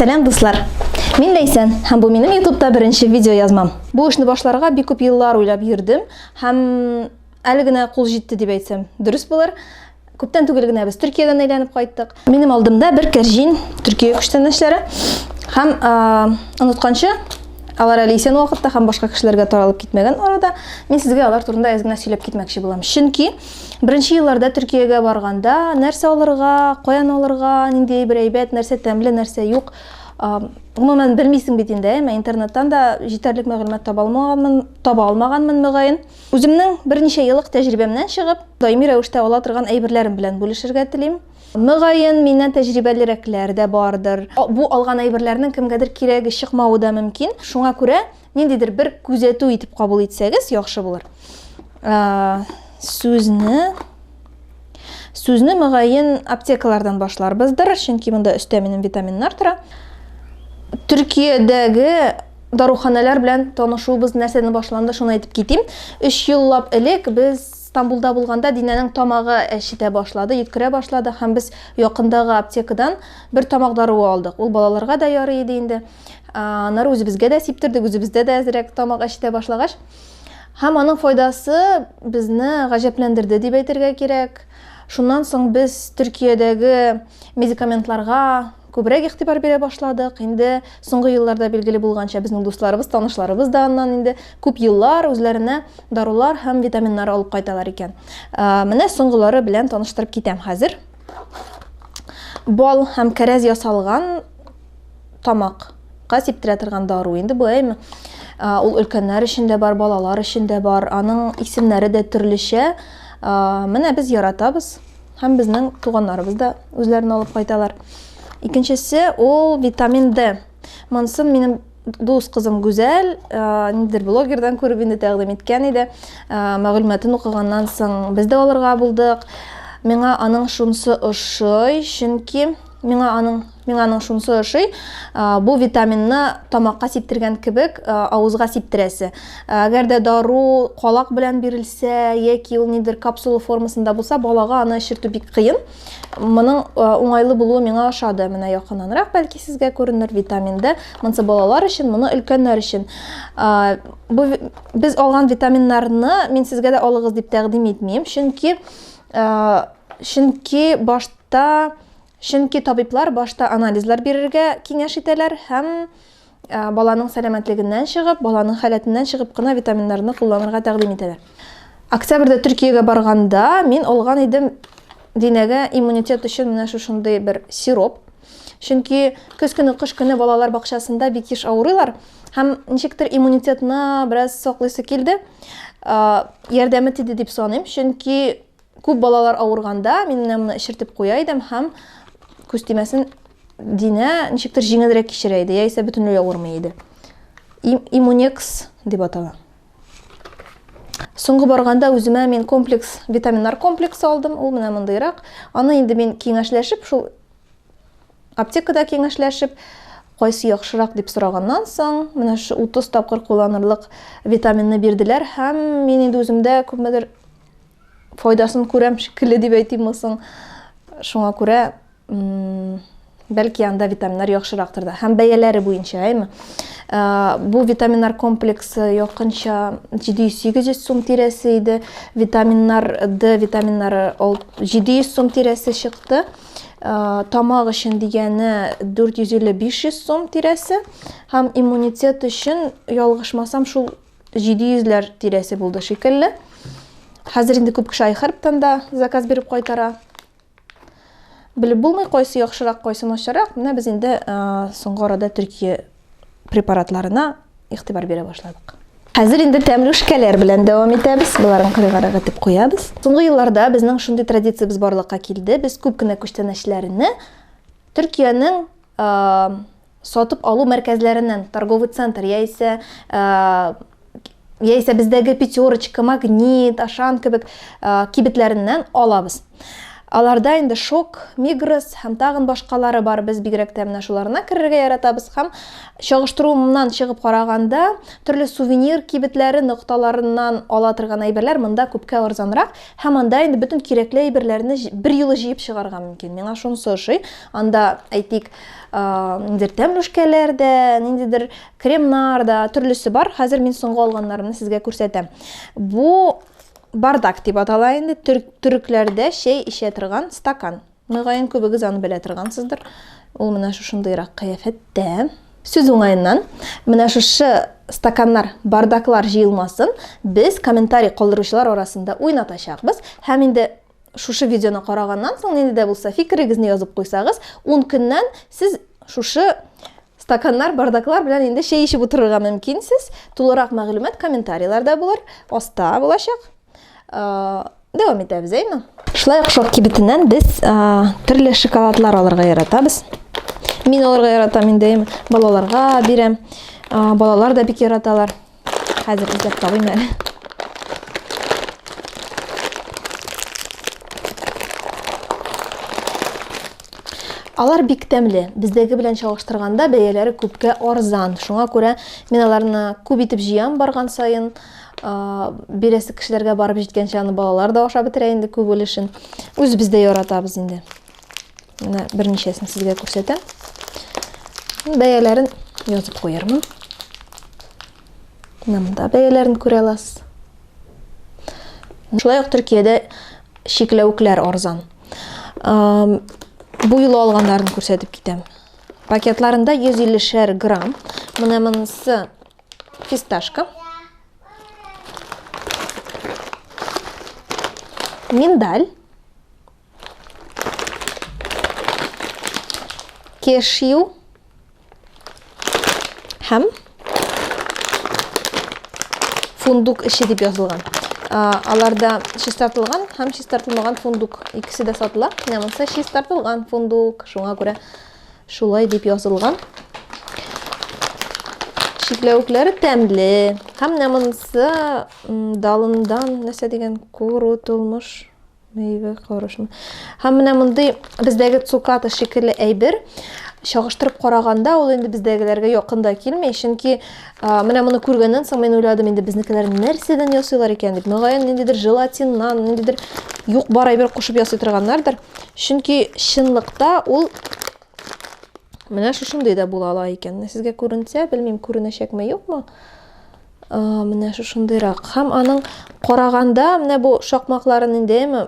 Сәлам дуслар! Мин Ләйсән һәм бу минем ютубта беренче видео язмам. Бу эшне башларга бик күп еллар уйлап йөрдем һәм әле генә кул җитте дип әйтсәм дөрес булыр. Күптән түгел генә без Төркиядән әйләнеп кайттык. Минем алдымда бер кәрҗин Төркия күчтәнәчләре һәм онытканчы алар әле исән вакытта һәм башка кешеләргә таралып китмәгән арада мин сезгә алар турында әз генә сөйләп китмәкче булам. Чөнки Беренче елларда Төркиягә барганда, нәрсә алырга, каян алырга, нинди әйбер әйбәт, нәрсә тәмле, нәрсә юк, гомумән белмисең бит инде, әмма интернеттан да җитәрлек мәгълүмат таба алмаганмын, таба алмаганмын мөгаен. Үземнең берничә еллык тәҗрибәмнән чыгып, даими рәвештә ала торган әйберләрем белән бүлешергә телим. Мөгаен, миннән тәҗрибәлерәкләр дә бардыр. Бу алган әйберләрнең кемгәдер кирәге чыкмавы да мөмкин. Шуңа күрә Ниндидер бер күзәтү итеп кабул итсәгез, яхшы булыр. Сүзне Сүзне мөгаен аптекалардан башларбыздыр, чөнки монда өстә минем витаминнар тора. Төркиядәге даруханалар белән танышуыбыз нәрсәдән башланды, шуны әйтеп китим. 3 еллап элек без Стамбулда булганда Динәнең тамагы әчетә башлады, йөткерә башлады һәм без якындагы аптекадан бер тамак даруы алдык. Ул балаларга да ярый иде инде. аннары үзебезгә дә сиптердек үзебездә дә әзрәк тамак әчетә башлагач һәм аның файдасы безне гаҗәпләндерде дип әйтергә кирәк шуннан соң без төркиядәге медикаментларга күбрәк игътибар бирә башладык инде соңгы елларда билгеле булганча безнең дусларыбыз танышларыбыз да аннан инде күп еллар үзләренә дарулар һәм витаминнар алып кайталар икән менә соңгылары белән таныштырып китәм хәзер бал һәм кәрәз ясалган тамак ка сиптерә торган дару инде бу әйме ул өлкәннәр өчен дә бар балалар өчен дә бар аның исемнәре дә төрлечә менә без яратабыз һәм безнең туганнарыбыз да үзләрен алып кайталар икенчесе ул витамин д монысын минем дус кызым гүзәл ниндидер блогердан күреп инде тәкъдим иткән иде мәгълүматын укыганнан соң без дә алырга булдык миңа аның шунысы ошый чөнки миңа аның Миңа аның шунысы ошый, бу витаминны тамакка сиптергән кебек авызга сиптерәсе. Әгәр дә дару калак белән бирелсә, яки ул нидер капсула формасында булса, балага аны эчертү бик кыен. Моның уңайлы булуы миңа ошады. Менә якыннанрак бәлки сезгә күренер витаминды. Монсы балалар өчен, моны өлкәннәр өчен. Бу без алган витаминнарны мин сезгә дә алыгыз дип тәкъдим итмим, чөнки чөнки башта Чөнки табиблар башта анализлар бирергә киңәш итәләр һәм баланың сәламәтлегеннән чыгып, баланың халәтеннән чыгып кына витаминнарны кулланырга тәкъдим итәләр. Октябрьдә Төркиягә барганда мин алган идем Динәгә иммунитет өчен менә шушындый бер сироп. Чөнки көз көне, кыш көне балалар бакчасында бик еш авырыйлар һәм ничектер иммунитетны бераз саклыйсы килде. Ярдәме тиде дип саныйм, чөнки Күп балалар авырганда мин менә моны эчертеп куя идем һәм күз тимәсен Динә ничектер җиңелрәк кичерә иде, яисә бөтенләй авырмый иде. Иммунекс дип атала. Соңгы барганда үземә мин комплекс, витаминнар комплексы алдым, ул менә мондыйрак. Аны инде мин киңәшләшеп, шул аптекада киңәшләшеп, кайсы яхшырак дип сораганнан соң, менә шу 30 тапкыр кулланырлык витаминны бирделәр һәм мин инде үземдә күпмедер файдасын күрәм шикелле дип әйтимме соң. Шуңа күрә бәлки анда витаминнар яхшырактыр да. Һәм бәяләре буенча, әйме? Ә, бу витаминнар комплексы якынча 700-800 сум тирәсе иде. Витаминнар Д витаминнары 700 сум тирәсе чыкты. Ә, тамак өчен дигәне 450-500 сум тирәсе. Һәм иммунитет өчен, ялгышмасам, шул 700ләр тирәсе булды шикелле. Хәзер инде күп кеше айхәрптан да заказ биреп кайтара. Белеп булмый, кайсы яхшырак, кайсы начарак. Менә без инде соңгы арада Төркия препаратларына игътибар бирә башладык. Хәзер инде тәмле шкәләр белән дәвам итәбез. Буларын кырыгарак итеп куябыз. Соңгы елларда безнең шундый традициябез барлыкка килде. Без күп кенә күчтәнәчләрне Төркиянең Сатып алу мәркәзләреннән, торговый центр яисә яисә бездәге пятерочка, магнит, ашан кебек кибетләреннән алабыз. Аларда инде шок, мигрос һәм тагын башкалары бар. Без бигрәк тә менә шуларына керергә яратабыз һәм чагыштыруымнан чыгып караганда, төрле сувенир кибетләре нокталарыннан ала торган әйберләр монда күпкә арзанрак һәм анда инде бөтен кирәкле әйберләрне бер юлы җыеп чыгарга мөмкин. Миңа шунысы ошый. Анда, әйтик, ниндидер тәмлүшкәләр дә ниндидер кремнар да төрлесе бар хәзер мин соңгы алганнарымны сезгә күрсәтәм бу бардак дип атала инде төрекләрдә чәй эчә торган стакан мөгаен күбегез аны белә торгансыздыр ул менә шушындыйрак кыяфәттә сүз уңаеннан менә шушы стаканнар бардаклар җыелмасын без комментарий калдыручылар арасында уйнатачакбыз һәм инде Шушы видеоны караганнан соң нинди дә булса фикерегезне язып куйсагыз, 10 көннән сез шушы стаканнар, бардаклар белән инде чәй эчеп утырырга мөмкинсез. Тулырак мәгълүмат комментарийларда булыр, аста булачак. Дәвам итәбез, әйме? Шулай ук шок кибетеннән без төрле шоколадлар алырга яратабыз. Мин алырга яратам инде, балаларга бирәм. Балалар да бик яраталар. Хәзер эзләп табыйм әле. Алар бик тәмле. Бездәге белән чагыштырганда бәяләре күпкә арзан. Шуңа күрә мин аларны күп итеп җыям барган саен. Бирәсе кешеләргә барып җиткәнчә аны балалар да ашап бетерә инде күп өлешен. Үзебез дә яратабыз инде. Менә берничәсен сезгә күрсәтәм. Бәяләрен язып куярмын. Менә монда бәяләрен күрә аласыз. Шулай ук Төркиядә чикләвекләр арзан. Бу юлы алганнарын күрсәтеп китәм. Пакетларында 150 шәр грамм. Менә монысы фисташка. Миндаль. Кешью. Һәм фундук эше дип язылган. Аларда чистартылган һәм чистартылмаган фундук икесе дә сатыла. Менә монысы чистартылган фундук. Шуңа күрә шулай дип язылган. Чикләвекләре тәмле. Һәм менә монысы далындан нәрсә дигән куру тулмыш Мейве корышмы. Һәм менә мондый бездәге цуката шикелле әйбер чагыштырып караганда ул инде бездәгеләргә якын да килми, чөнки менә моны күргәннән соң мин уйладым, инде безнекеләр нәрсәдән ясыйлар икән дип. Мөгаен, ниндидер желатиннан, ниндидер юк бар әйбер кушып ясый торганнардыр. Чөнки чынлыкта ул менә шушындый да була ала икән. Сезгә күренсә, белмим, күренәчәкме, юкмы? Менә шушындыйрак. Һәм аның караганда, менә бу шакмакларын инде әме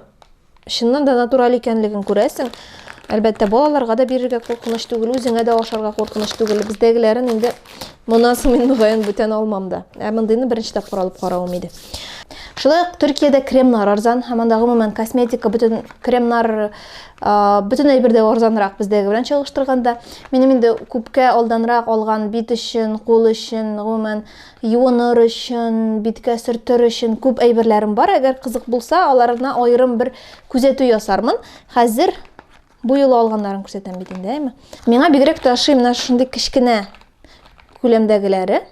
чыннан да натураль икәнлеген күрәсең. Әлбәттә, балаларга да бирергә куркыныч түгел, үзеңә дә ашарга куркыныч түгел. Бездәгеләрен инде моннан соң мин мөгаен бүтән алмам да. Ә мондыйны беренче тапкыр алып каравым иде. Шулай ук Төркиядә кремнар арзан, һәм анда гомумән косметика, бөтен кремнар бөтен әйбер дә арзанрак бездәге белән чагыштырганда минем инде күпкә алданрак алган бит өчен кул өчен гомумән юыныр өчен биткә сөртер өчен күп әйберләрем бар әгәр кызык булса аларына аерым бер күзәтү ясармын хәзер бу юлы алганнарын күрсәтәм бит инде әйме миңа бигрәк тә ошый менә шундый кечкенә Күләмдәгеләре.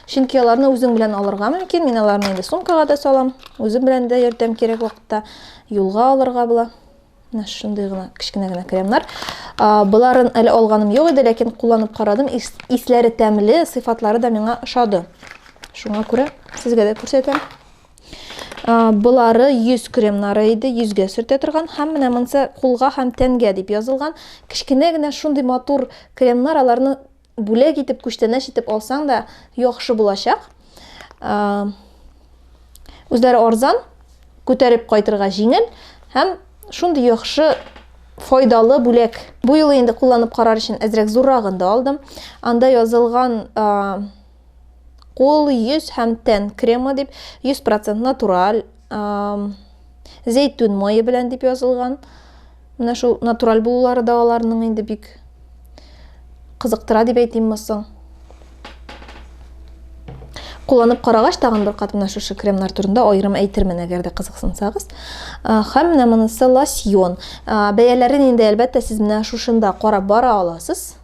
Чөнки аларны үзең белән алырга мөмкин. Мин аларны инде сумкага да салам. Үзем белән дә йөртәм кирәк вакытта. Юлга алырга була. Менә шундый гына кечкенә генә кремнар. Боларын әле алганым юк иде, ләкин кулланып карадым. Исләре тәмле, сыйфатлары да миңа ошады. Шуңа күрә сезгә дә күрсәтәм. Болары йөз кремнары иде, йөзгә сөртә торган һәм менә монсы кулга һәм тәнгә дип язылган. Кечкенә генә шундый матур кремнар, аларны бүләк итеп, күчтәнәч итеп алсаң да яхшы булачак. Үзләре арзан, күтәреп кайтырга җиңел һәм шундый яхшы файдалы бүләк. Бу юлы инде кулланып карар өчен әзрәк зуррагын да алдым. Анда язылган Кул, йөз һәм тән кремы дип 100% натураль зәйтүн мае белән дип язылган. Менә шул натураль булулары да аларның инде бик кызыктыра дип әйтимме соң. Кулланып карагач, тагын бер кат менә шушы кремнар турында аерым әйтермен, әгәр дә кызыксынсагыз. Һәм менә монысы лосьон. Бәяләрен инде әлбәттә сез менә шушында карап бара аласыз.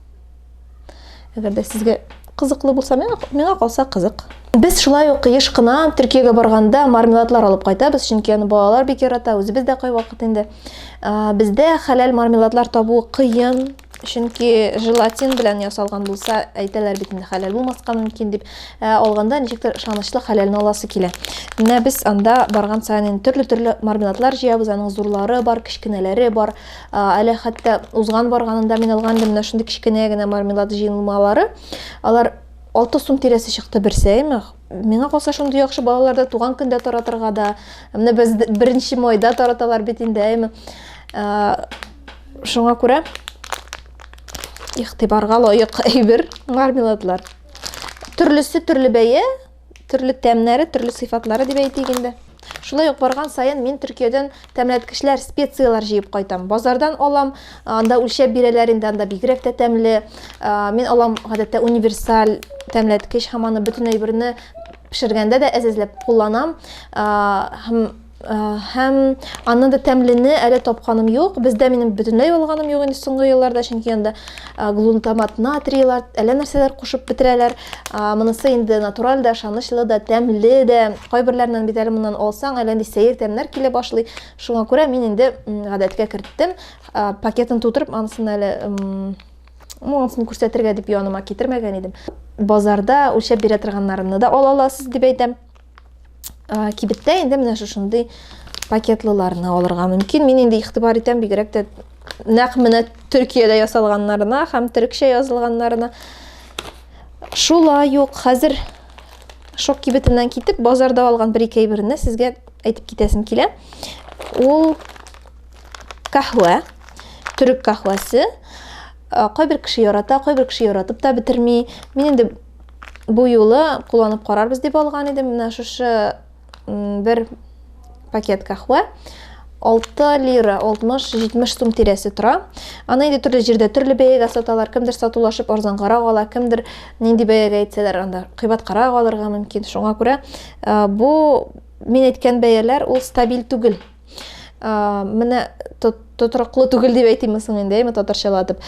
Әгәр дә сезгә кызыклы булса, миңа, миңа калса кызык. Без шулай ук еш кына Төркиягә барганда мармеладлар алып кайтабыз, чөнки аны балалар бик ярата, үзебез дә кайвакыт инде. Бездә хәләл мармеладлар табу кыен, чөнки желатин белән ясалган булса, әйтәләр бит инде хәләл булмаска мөмкин дип, ә алганда ничектер ышанычлы хәләлне аласы килә. Менә без анда барган саен төрле-төрле мармеладлар җыябыз, аның зурлары бар, кечкенәләре бар. Әле хәтта узган барганында мин алган идем менә шундый кечкенә генә мармелад җыелмалары. Алар 6 сум тирәсе чыкты берсе, әйме? Миңа калса шундый яхшы балаларда туган көндә таратырга да. Менә без 1 майда тараталар бит инде, әйме? Шуңа күрә игътибарга лаек әйбер мармеладлар. Төрлесе төрле бәя, төрле тәмнәре, төрле сыйфатлары дип әйтик инде. Шулай ук барган саен мин Төркиядән тәмләткечләр, специяләр җыеп кайтам. Базардан алам, анда үлчәп бирәләр инде, анда бигрәк тә тәмле. Мин алам гадәттә универсаль тәмләткеч һәм аны бөтен әйберне пешергәндә дә әзәзләп кулланам. Һәм Һәм аннан да тәмлене әле тапканым юк. Бездә минем бөтенләй алганым юк инде соңгы елларда, чөнки анда глунтамат натрийлар, әллә нәрсәләр кушып бетерәләр. Монысы инде натураль да, ышанычлы да, тәмле дә. Кайберләреннән бит әле моннан алсаң, әллә нинди сәер тәмнәр килә башлый. Шуңа күрә мин инде гадәткә керттем. Пакетын тутырып, анысын әле монысын күрсәтергә дип яныма китермәгән идем. Базарда үлчәп бирә торганнарны да ала аласыз дип әйтәм. Ә, кибеттә инде менә шушындый пакетлыларны алырга мөмкин. Мин инде игътибар итәм бигрәк тә нәкъ менә Төркиядә ясалганнарына һәм төрекчә язылганнарына. Шулай ук хәзер шок кибетеннән китеп, базарда алган бер-ике әйберне сезгә әйтеп китәсем килә. Ул каһвә, төрек каһвәсе. Кайбер кеше ярата, кайбер кеше яратып та бетерми. Мин инде бу юлы кулланып карарбыз дип алган идем. Менә шушы бер пакет кахва. 6 лира 60-70 сум тирәсе тора. Аны инде төрле җирдә төрле бәягә саталар. Кемдер сатулашып арзангарак ала, кемдер нинди бәягә әйтсәләр, анда кыйбаткарак алырга мөмкин. Шуңа күрә бу мин әйткән бәяләр ул стабиль түгел. ә, менә тотрыклы түгел дип әйтимме соң инде әйме татарчалатып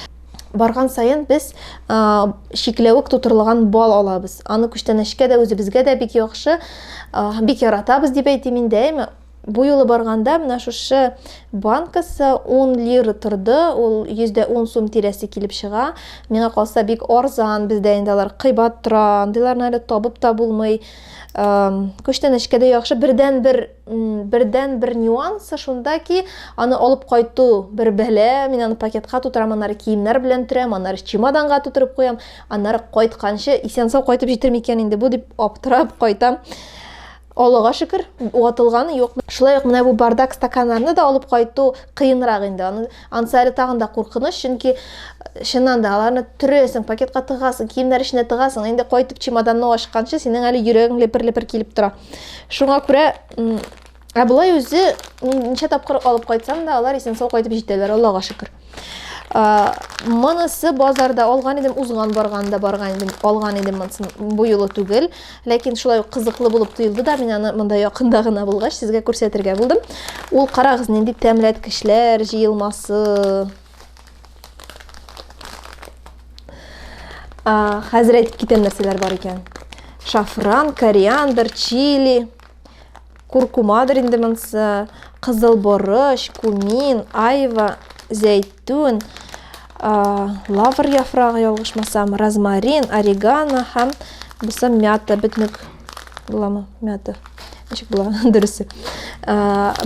барган саен без ә, шикләвек тутырылган бал алабыз аны күчтәнәчкә дә үзебезгә дә бик яхшы ә, бик яратабыз дип әйтим инде әйме бу юлы барганда менә шушы банкасы 10 лира торды ул 110 сум тирәсе килеп чыга миңа калса бик арзан бездә инде алар кыйбат тора андыйларны әле табып та булмый ә, күчтәнәчкә дә яхшы бердән бер бердән бер нюансы шунда ки аны алып кайту бер бәлә мин аны пакетка тутырам аннары киемнәр белән төрәм аннары чемоданга тутырып куям аннары кайтканчы исән сау кайтып җитер микән инде бу дип аптырап кайтам Аллага шөкер, ватылганы юк. Шулай ук менә бу бардак стаканнарны да алып кайту кыенрак инде. Аны ансы әле тагын да куркыныч, чөнки э, чыннан да аларны төрәсең, пакетка тыгасың, киемнәр эченә тыгасың, инде кайтып чемоданны ачканчы синең әле йөрәгең лепер-лепер килеп тора. Шуңа күрә Ә болай үзе ничә тапкыр алып кайтсам да, алар исән сау кайтып җитәләр, Аллага шөкер. Монысы базарда алган идем, узган барганда барган идем, алган идем монысын бу юлы түгел. Ләкин шулай ук кызыклы булып тоелды да, мин аны монда якында гына булгач сезгә күрсәтергә булдым. Ул карагыз нинди тәмләткечләр җыелмасы. А, хәзер әйтеп китәм нәрсәләр бар икән. Шафран, кориандр, чили, куркумадыр инде монсы, кызыл борыч, кумин, айва, зәйтүн, а, лавр яфрагы ялгышмасам, розмарин, орегано һәм бусы мята, бөтнек Буламы? Мята. Ничек була? Дөресе. Ә,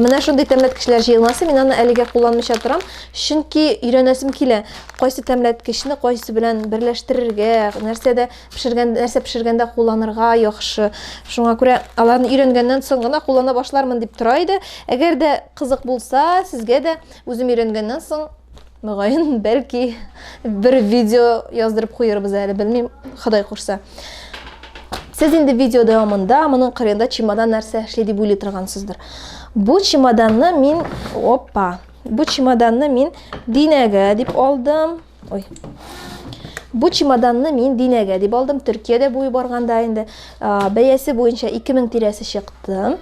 менә шундый тәмләткечләр җыелмасы. Мин аны әлегә кулланмыйча торам, чөнки өйрәнәсем килә. Кайсы тәмләткечне кайсы белән берләштерергә, нәрсәдә пешергән, нәрсә пешергәндә кулланырга яхшы. Шуңа күрә аларны өйрәнгәннән соң гына куллана башлармын дип тора иде. Әгәр дә кызык булса, сезгә дә үзем өйрәнгәннән соң Мөгаен, бәлки бер видео яздырып куербыз әле, белмим, Ходай курса. Сез инде видео дәвамында моның кырында чемодан нәрсә эшли дип уйлый торгансыздыр. Бу чемоданны мин, опа, бу чемоданны мин динәгә дип алдым. Ой. Бу чемоданны мин динәгә дип алдым. Төркиядә буй барганда инде Бәясе буенча 2000 тирәсе чыкты.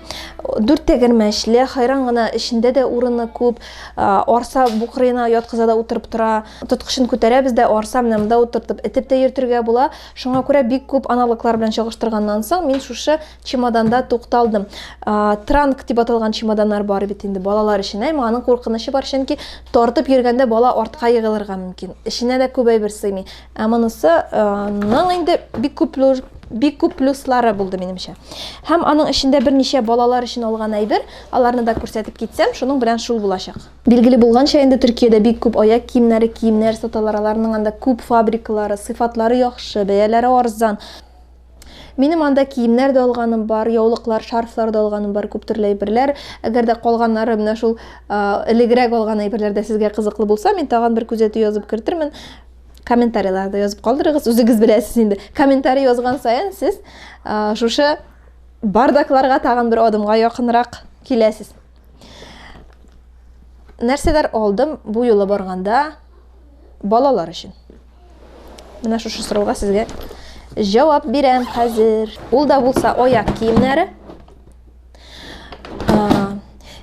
Дүрт тәгәрмәчле, хайран гына, эчендә дә урыны күп. Арса букрыена яткыза да утырып тора. Тоткычын күтәрәбез дә, арса менә монда утыртып, этеп тә йөртергә була. Шуңа күрә бик күп аналоглар белән чагыштырганнан соң, мин шушы чемоданда тукталдым. Транк дип аталган чемоданнар бар бит инде балалар өчен. Әмма аның куркынычы бар, чөнки тартып йөргәндә бала артка егылырга мөмкин. Эченә дә күп әйбер сыймый. Ә монысы ның инде бик күп плюс бик күп плюслары булды минемчә. Һәм аның эчендә берничә балалар өчен алган әйбер, аларны да күрсәтеп китсәм, шуның белән шул булачак. Билгеле булганча, инде Төркиядә бик күп аяк киемнәре, киемнәр саталар, аларның анда күп фабрикалары, сыйфатлары яхшы, бәяләре арзан. Минем анда киемнәр дә алганым бар, яулыклар, шарфлар да алганым бар, күп төрле әйберләр. Әгәр дә калганнары менә шул элегрәк алган әйберләр дә сезгә кызыклы булса, мин тагын бер күзәтү язып кертермен. Комментарийларда язып калдырыгыз, үзегез беләсез инде. Комментарий язган саен сез шушы бардакларга тагын бер адымга якынрак киләсез. Нәрсәләр алдым бу юлы барганда балалар өчен? Менә шушы сорауга сезгә җавап бирәм хәзер. Ул да булса аяк киемнәре.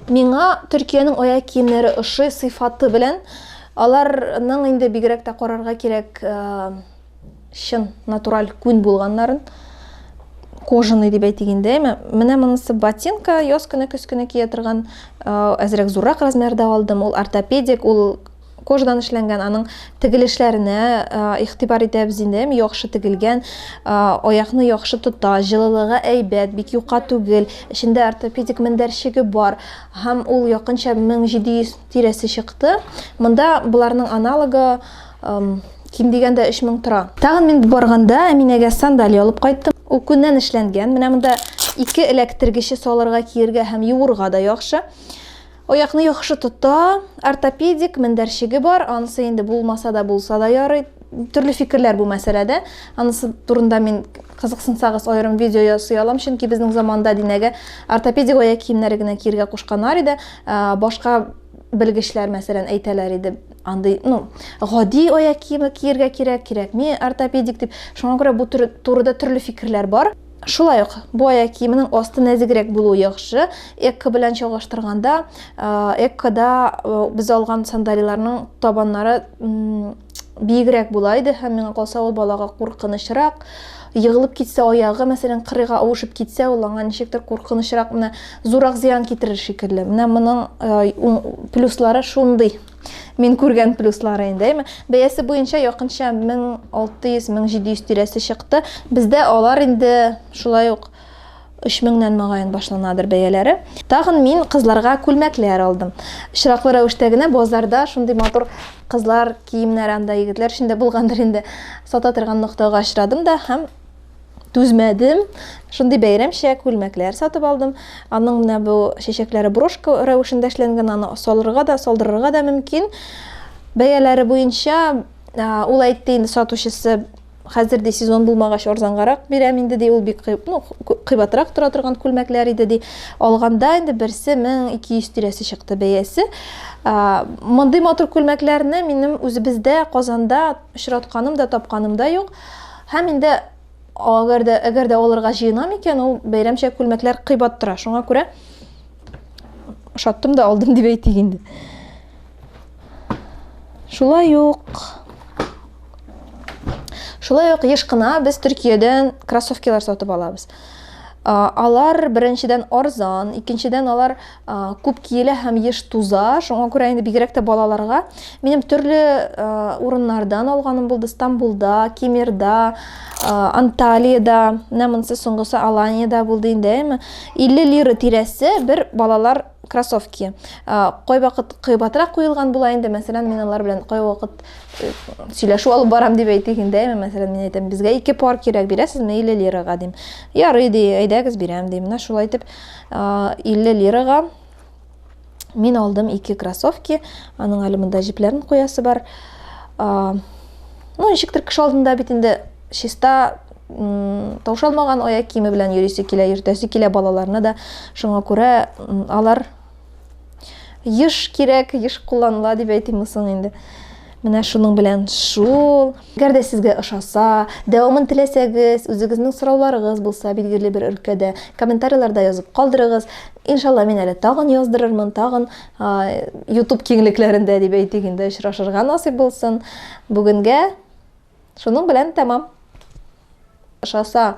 Миңа Төркиянең аяк киемнәре ошый сыйфаты белән. Аларның инде бигрәк тә карарга кирәк чын натураль күн булганнарын. Кожаный дип әйтик инде. Менә монысы ботинка, яз көне, көз көне кия торган, әзрәк зуррак размерда алдым. Ул ортопедик, ул кожадан эшләнгән аның тегелешләренә игътибар итәбез инде әм яхшы тегелгән аякны яхшы тота җылылыгы әйбәт бик юка түгел эчендә ортопедик мендәрчеге бар һәм ул якынча 1700 тирәсе чыкты монда боларның аналогы ким дигәндә 3000 тора тагын мин барганда әминәгә сандали алып кайттым ул күннән эшләнгән менә монда ике эләктергече салырга киергә һәм юырга да яхшы Аякны яхшы тота, ортопедик мендәрчеге бар, анысы инде булмаса да булса да ярый. Төрле фикерләр бу мәсьәләдә. Анысы турында мин кызыксынсагыз аерым видео ясый алам, чөнки безнең заманда динәгә ортопедик аяк киемнәре генә киергә кушканнар иде. Ә, башка белгечләр мәсәлән әйтәләр иде андый ну гади аяк киеме киергә кирәк кирәкми ортопедик дип шуңа күрә бу турыда төрле фикерләр бар Шулай ук бу аяк киеменең асты нәзегрәк булуы яхшы. Экко белән чагыштырганда, Эккода без алган сандалиларның табаннары биегрәк була иде һәм миңа калса ул балага куркынычрак. Егылып китсә аягы, мәсәлән, кырыйга авышып китсә, ул аңа ничектер куркынычрак, менә зурак зыян китерер шикелле. Менә моның плюслары шундый. Мин күргән плюслары инде, әйме. Бәясе буенча якынча 1600-1700 тирәсе чыкты. Бездә алар инде шулай ук 3000-нән мөгаен башланадыр бәяләре. Тагын мин кызларга күлмәкләр алдым. Чираклы рәвештә генә базарда шундый матур кызлар киемнәре анда егетләр өчен дә булгандыр инде. Сата торган ноктага очрадым да һәм түзмәдем. Шундый бәйрәмчә күлмәкләр сатып алдым. Аның менә бу чәчәкләре брошка рәвешендә эшләнгән, аны салырга да, салдырырга да мөмкин. Бәяләре буенча ул әйтте инде сатучысы, хәзер ди сезон булмагач арзангарак бирәм инде ди, ул бик ну, кыйбатрак тора торган күлмәкләр иде ди. Алганда инде берсе 1200 тирәсе чыкты бәясе. Мондый матур күлмәкләрне минем үзебездә Казанда очратканым да, тапканым да юк. Һәм инде әгәр дә әгәр дә алырга җыенам икән, ул бәйрәмчә күлмәкләр кыйбат тора. Шуңа күрә ошаттым да алдым дип әйтик инде. Шулай ук Шулай ук еш кына без Төркиядән кроссовкалар сатып алабыз. Алар беренчедән арзан, икенчедән алар күп киелә һәм еш туза. Шуңа күрә инде бигрәк тә балаларга минем төрле урыннардан алганым булды. Стамбулда, Кемерда, Анталиядә, менә монысы соңгысы Аланиядә булды инде, әйме? 50 лира тирәсе бер балалар кроссовки. Кай вакыт кыйбатрак куелган була инде, мәсәлән, мин алар белән кай вакыт э, сөйләшү алып барам дип әйтик инде, әйме? Мәсәлән, мин әйтәм, безгә ике пар кирәк, бирәсезме 50 лирага дим. Ярый ди, әйдәгез бирәм ди. Менә шулай итеп 50 лирага мин алдым ике кроссовки аның әле монда җепләрен куясы бар ну ничектер кеше алдында бит инде чиста таушалмаган аяк киеме белән йөрисе килә йөртәсе килә балаларны да шуңа күрә алар Еш кирәк, еш кулланыла дип әйтимме соң инде. Менә шуның белән шул. Әгәр дә сезгә ошаса, дәвамын теләсәгез, үзегезнең сорауларыгыз булса билгеле бер өлкәдә, комментарийларда язып калдырыгыз. Иншалла, мин әле тагын яздырырмын, тагын YouTube киңлекләрендә дип әйтик инде, очрашырга насыйп булсын. Бүгенгә шуның белән тәмам. Ошаса,